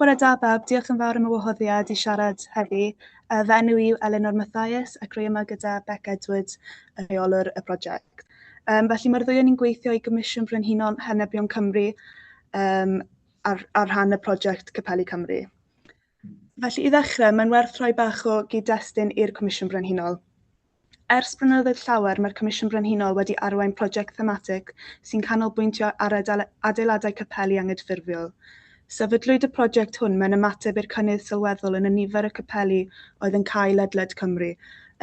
Bore da bawb, diolch yn fawr am y wahoddiad i siarad heddi. Yy fy enw i yw Elinor Mathias ac rwy yma gyda Beck Edwards, y rheolwr y prosiect. Um, felly mae'r ddwy o'n i'n gweithio i Gomisiwn Brenhinol Henebion Cymru um, ar, ar rhan y prosiect Capelli Cymru. Felly i ddechrau, mae'n werth rhoi bach o gyd-destun i'r Comisiwn Brenhinol. Ers blynyddoedd llawer mae'r Comisiwn Brenhinol wedi arwain prosiect thematig sy'n canolbwyntio ar adeiladau capeli angydffurfiol. Sefydlwyd y prosiect hwn mewn ymateb i'r cynnydd sylweddol yn y nifer y capeli oedd yn cau ledled Cymru,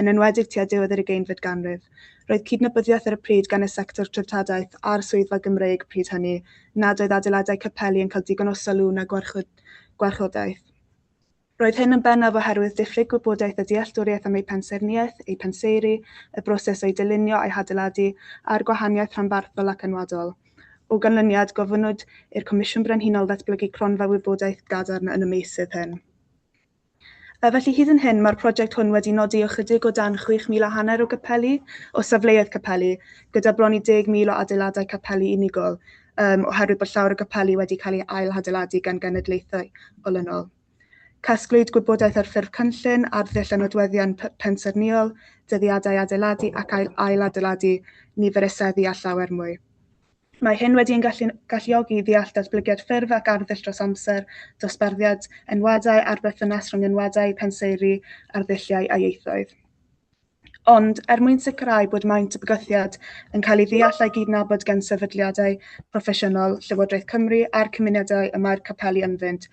yn enwedig tua diwedd yr ugeinfed ganrif. Roedd cydnabyddiaeth ar y pryd gan y sector treftadaeth a'r Swyddfa Gymreig pryd hynny nad oedd adeiladau capeli yn cael digon o sylw na gwarchodaeth. Roedd hyn yn bennaf oherwydd diffyg gwybodaeth a dealltwriaeth am eu pensaernïaeth, eu penseiri, y broses o'u dylunio a'u hadeiladu, a'r gwahaniaeth rhanbarthol ac enwadol. O ganlyniad, gofynnwyd i'r Comisiwn Brenhinol ddatblygu cronfa wybodaeth gadarn yn y meysydd hyn. Felly, hyd yn hyn, mae'r prosiect hwn wedi nodi ychydig o dan 6,000 a hanner o gapeli, o safleoedd capeli, gyda bron i 10,000 o adeiladau capeli unigol, um, oherwydd bod llawer o gapeli wedi cael ei ail-hadeiladu gan genedlaethau olynol. Casglwyd gwybodaeth ar ffurf cynllun, arddull a nodweddion pensaernïol, dyddiadau adeiladu ac ail ailadeiladu nifer y seddi a llawer mwy. Mae hyn wedi yn gallu, galluogi i ddeall datblygiad ffurf ac arddull dros amser, dosbarthiad enwadau a'r berthynas rhwng enwadau, penseiri, arddulliau a ieithoedd. Ond, er mwyn sicrhau bod maint y bygythiad yn cael ei ddeall a'i gydnabod gan sefydliadau proffesiynol Llywodraeth Cymru a'r cymunedau y mae'r capeli ynddynt,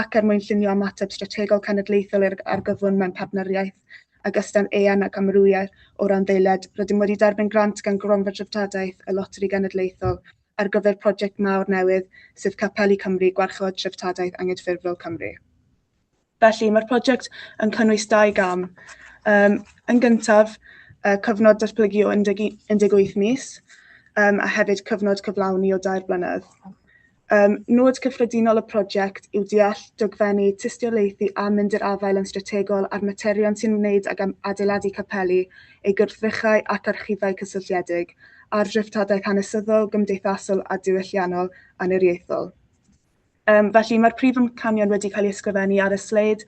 ac er mwyn llunio ymateb strategol cenedlaethol i'r argyfwng mewn partneriaeth ag ystan eang ac amrywio o randdeiliaid, rydym wedi derbyn grant gan Gronfa Dreftadaeth y Loteri Genedlaethol ar gyfer project mawr newydd, sef Capeli Cymru, Gwarchod Treftadaeth Angydffurfiol Cymru. Felly, mae'r prosiect yn cynnwys dau gam. Um, yn gyntaf, uh, cyfnod datblygu o 18 mis, um, a hefyd cyfnod cyflawni o dair blynedd. Um, nod cyffredinol y prosiect yw deall dogfennu tystiolaethu a mynd i'r afael yn strategol ar materion sy'n wneud ag am adeiladu capeli, ei gwrthrychau ac archifau cysylltiedig, a'r dreftadaeth hanesyddol, gymdeithasol a diwylliannol aniriaethol. Um, felly mae'r prif amcanion wedi cael ei ysgrifennu ar y sleid,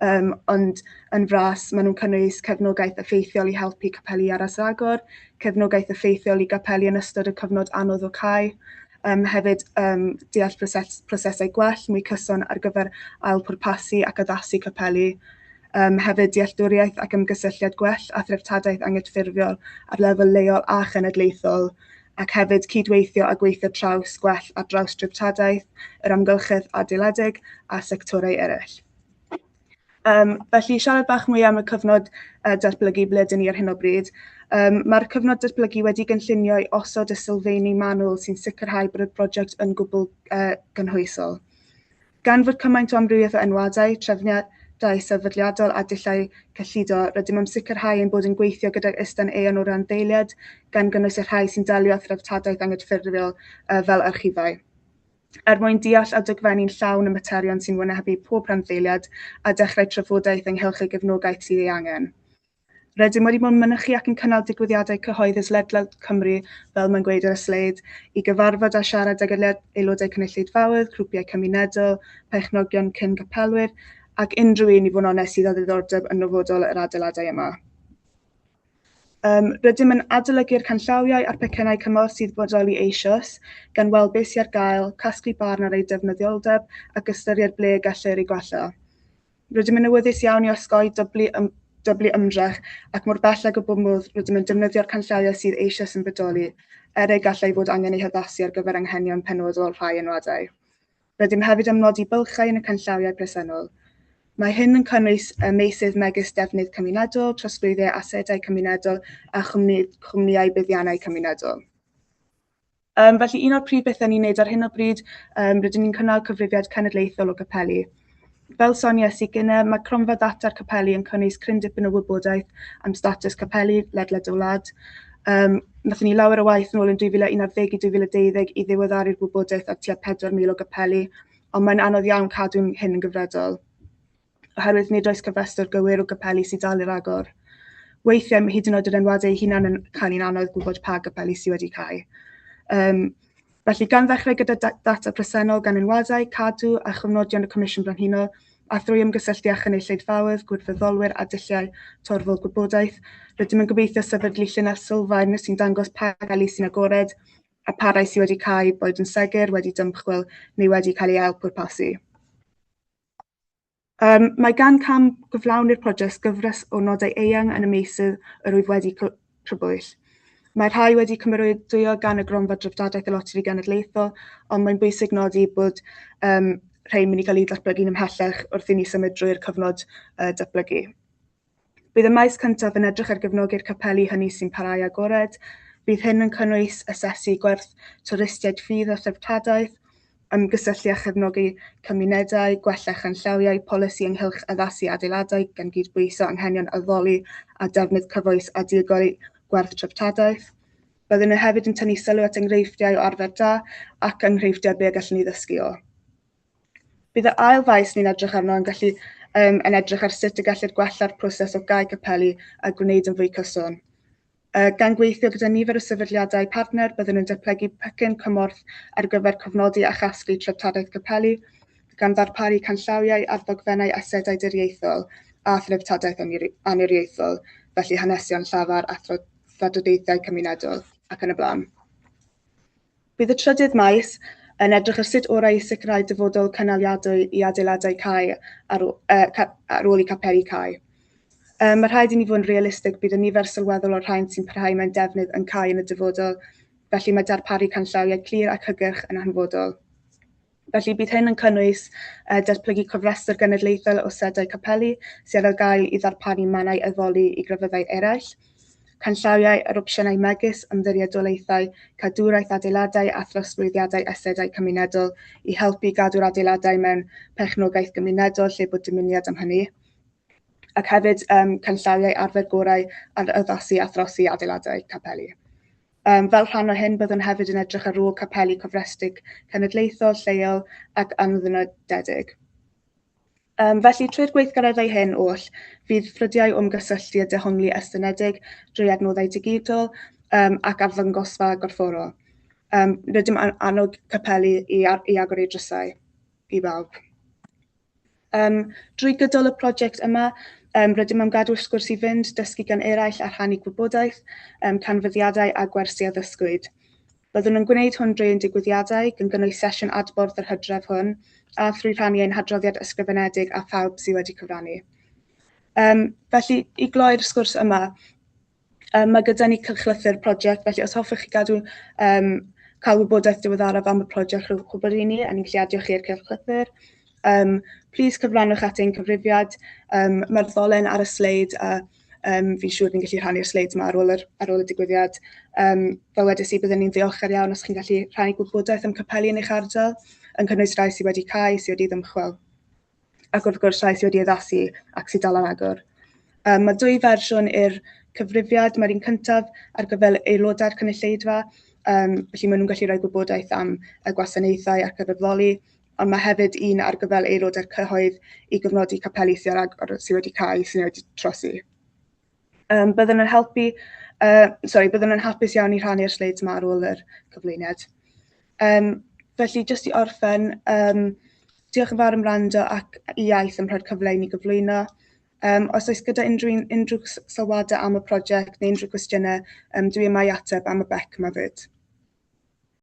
um, ond yn fras maen nhw'n cynnwys cefnogaeth effeithiol i helpu capeli ar asagor, cefnogaeth effeithiol i gapeli yn ystod y cyfnod anodd o cael, um, hefyd um, deall proses, prosesau gwell mwy cyson ar gyfer ail pwrpasu ac addasu capeli, um, hefyd dealltwriaeth ac ymgysylltiad gwell a threftadaeth anghydffurfiol ar lefel leol a chenedlaethol, ac hefyd cydweithio a gweithio traws gwell ar draws dreftadaeth, yr amgylchedd adeiladeg a sectorau eraill. Um, felly, siarad bach mwy am y cyfnod uh, datblygu ble dyn ni ar hyn o bryd. Um, Mae'r cyfnod datblygu wedi gynllunio i osod y sylfeini manwl sy'n sicrhau bod y brosiect yn gwbl uh, gynhwysol. Gan fod cymaint o amrywiaeth o enwadau, trefniadau sefydliadol a dulliau cyllido, rydym am sicrhau ein bod yn gweithio gydag Ystan Aeon o randdeiliaid, gan gynnwys y rhai sy'n delio â threftadaeth angydffurfiol fel archifau. Er mwyn deall a dogfennu'n llawn y materion sy'n wynebu pob rhanddeiliad a dechrau trafodaeth ynghylch y gefnogaeth sydd ei angen, Rydym wedi bod yn mynychu ac yn cynnal digwyddiadau cyhoeddus ledled Cymru, fel mae'n gweud ar y sleid, i gyfarfod a siarad ag aelodau cynulleidfaoedd, grwpiau cymunedol, perchnogion cyn capelwyr, ac unrhyw un i fod yn onest sydd â ddiddordeb yn nofodol yr adeiladau yma. Um, rydym yn adolygu'r canllawiau a'r pecennau cymorth sydd bodoli eisoes, gan weld beth sy'n ar gael, casglu barn ar ei defnyddioldeb ac ystyried ble y gellir ei gwella. Rydym yn awyddus iawn i osgoi dyblu, ym, dyblu ymdrech ac mor bell ag y bod modd rydym yn defnyddio'r canllawiau sydd eisoes yn bodoli er ei gallai fod angen ei haddasu ar gyfer anghenion penodol rhai enwadau. Rydym hefyd am nodi bylchau yn y canllawiau presennol. Mae hyn yn cynnwys y meysydd megis defnydd cymunedol, trosglwyddiau asedau cymunedol a chwmni, chwmnïau buddiannau cymunedol. Um, felly un o'r prif bethau ni'n neud ar hyn o bryd, um, rydyn ni'n cynnal cyfrifiad cenedlaethol o gapeli. Fel sonies i gyne, mae cronfa ddata'r capeli yn cynnwys cryn dipyn o wybodaeth am status capeli ledled y wlad. Um, Nathon ni lawer o waith yn ôl yn 2011 i 2012 i ddiweddaru'r wybodaeth ar tua 4,000 o gapeli, ond mae'n anodd iawn cadw'n hyn yn gyfredol. oherwydd nid oes cofrestr gywir o gapeli sy'n dal i ragor. Weithiau mae hyd yn oed yr enwadau eu hunain yn cael i'n anodd gwybod pa gapeli sydd wedi cau. Um, felly, gan ddechrau gyda data presennol gan enwadau, cadw a chofnodion y Comisiwn Brenhinol, a thrwy ymgysylltu â chynulleidfaoedd, gwirfoddolwyr a dulliau torfol gwybodaeth, rydym yn gobeithio sefydlu llinell sylfaen sy'n dangos pa gapeli sy'n agored a pa rai sydd wedi cau, boed yn segur, wedi dymchwel neu wedi cael ei ail pwrpasu. Um, mae gan cam gyflawni'r prosiect gyfres o nodau eang yn y meysydd yr wyf wedi crybwyll. Mae rhai wedi cymeradwyo gan y gronfa dreftadaeth y Loteri Genedlaethol, ond mae'n bwysig nodi bod um, rhai'n mynd i gael eu datblygu'n ymhellach wrth i ni symud drwy'r cyfnod uh, datblygu. Bydd y maes cyntaf yn edrych ar gefnogi'r capeli hynny sy'n parhau agored. Bydd hyn yn cynnwys asesu gwerth twristiaid ffydd a threftadaeth, ymgysylltu a chefnogi cymunedau, gwella chanllawiau polisi ynghylch addasu adeiladau gan gydbwyso anghenion addoli a defnydd cyfoes a diogel i gwerth treftadaeth. Byddwn yn hefyd yn tynnu sylw at enghreifftiau o arfer da ac enghreifftiau be y gallwn ni ddysgu o. Bydd y ail faes ni'n edrych arno yn gallu um, yn edrych ar sut y gellir gwella'r proses o gau capeli a gwneud yn fwy cyson. Uh, gan gweithio gyda nifer o sefydliadau partner, byddwn yn datblygu pecyn cymorth ar gyfer cofnodi a chasglu treftadaeth capeli, gan ddarparu canllawiau ar ddogfennau asedau diriaethol a threftadaeth aniriaethol, felly hanesion llafar, athrodadeithiau cymunedol ac yn y blaen. Bydd y trydydd maes yn edrych ar sut orau i sicrhau dyfodol cynaliadwy i adeiladau cau ar, ôl, uh, ca, ar ôl i capeli cau. Um, mae rhaid i ni fod yn realistig bydd y nifer sylweddol o'r rhain sy'n parhau mewn defnydd yn cau yn y dyfodol, felly mae darparu canllawiau clir ac hygyrch yn hanfodol. Felly bydd hyn yn cynnwys uh, datblygu cofrestr genedlaethol o sedau capeli sydd ar gael i ddarparu mannau addoli i grefyddau eraill, canllawiau ar opsiynau megis ymddiriedolaethau, cadwraeth adeiladau a throsglwyddiadau asedau cymunedol i helpu i gadw'r adeiladau mewn perchnogaeth gymunedol lle bod dymuniad am hynny. ac hefyd um, canllawiau arfer gorau ar addasu a throsi adeiladau capeli. Um, fel rhan o hyn, byddwn hefyd yn edrych ar ôl capeli cofrestredig cenedlaethol, lleol ac anddynodedig. Um, felly, trwy'r gweithgareddau hyn oll, fydd ffrydiau o'm gysylltu a dehongli estynedig drwy adnoddau digidol um, ac arddangosfa gorfforol. Um, rydym annog capeli i, i agor eu drysau i bawb. Um, drwy gydol y prosiect yma, Um, rydym am gadw'r sgwrs i fynd, dysgu gan eraill a rhannu gwybodaeth, um, canfyddiadau a gwersi a ddysgwyd. Byddwn yn gwneud hwn drwy ein digwyddiadau, gan gynnwys sesiwn adborth yr hydref hwn, a thrwy rhannu ein hadroddiad ysgrifenedig a phawb sydd wedi cyfrannu. Um, felly, i gloi'r sgwrs yma, Um, mae gyda ni cylchlythyr prosiect, felly os hoffech chi gadw um, cael wybodaeth diweddaraf am y prosiect rhwng gwybod i ni, a ni'n gallu adio chi i'r cylchlythyr. Um, please cyfrannwch at ein cyfrifiad. Um, Mae'r ddolen ar y sleid a um, fi'n siŵr ni'n gallu rhannu'r sleid yma ar ôl, yr, ar ôl y digwyddiad. Um, fel wedys i, byddwn ni'n ddiolchgar iawn os chi'n gallu rhannu gwybodaeth am capeli yn eich ardal, yn cynnwys rhai sydd wedi cael, sydd wedi ddymchwel. ac wrth gwrs rhai sydd wedi addasu ac sydd dal yn agor. Um, mae dwy fersiwn i'r cyfrifiad, mae'r un cyntaf ar gyfer aelodau'r cynulleidfa, um, felly maen nhw'n gallu rhoi gwybodaeth am y gwasanaethau ac argyfloli, ond mae hefyd un ar gyfer aelodau'r cyhoedd i gyfnodi capeli sydd wedi cael eu syniad wedi trosi. Um, byddwn yn helpu, uh, sorry, byddwn yn hapus iawn i rhannu'r sleids yma ar ôl yr cyflwyniad. Um, felly, jyst i orffen, um, diolch yn fawr am rando ac i iaith am rhoi'r cyfle i ni gyflwyno. Um, os oes gyda unrhyw, unrhyw sylwadau am y prosiect neu unrhyw gwestiynau, um, dwi yma i ateb am y bec yma fyd.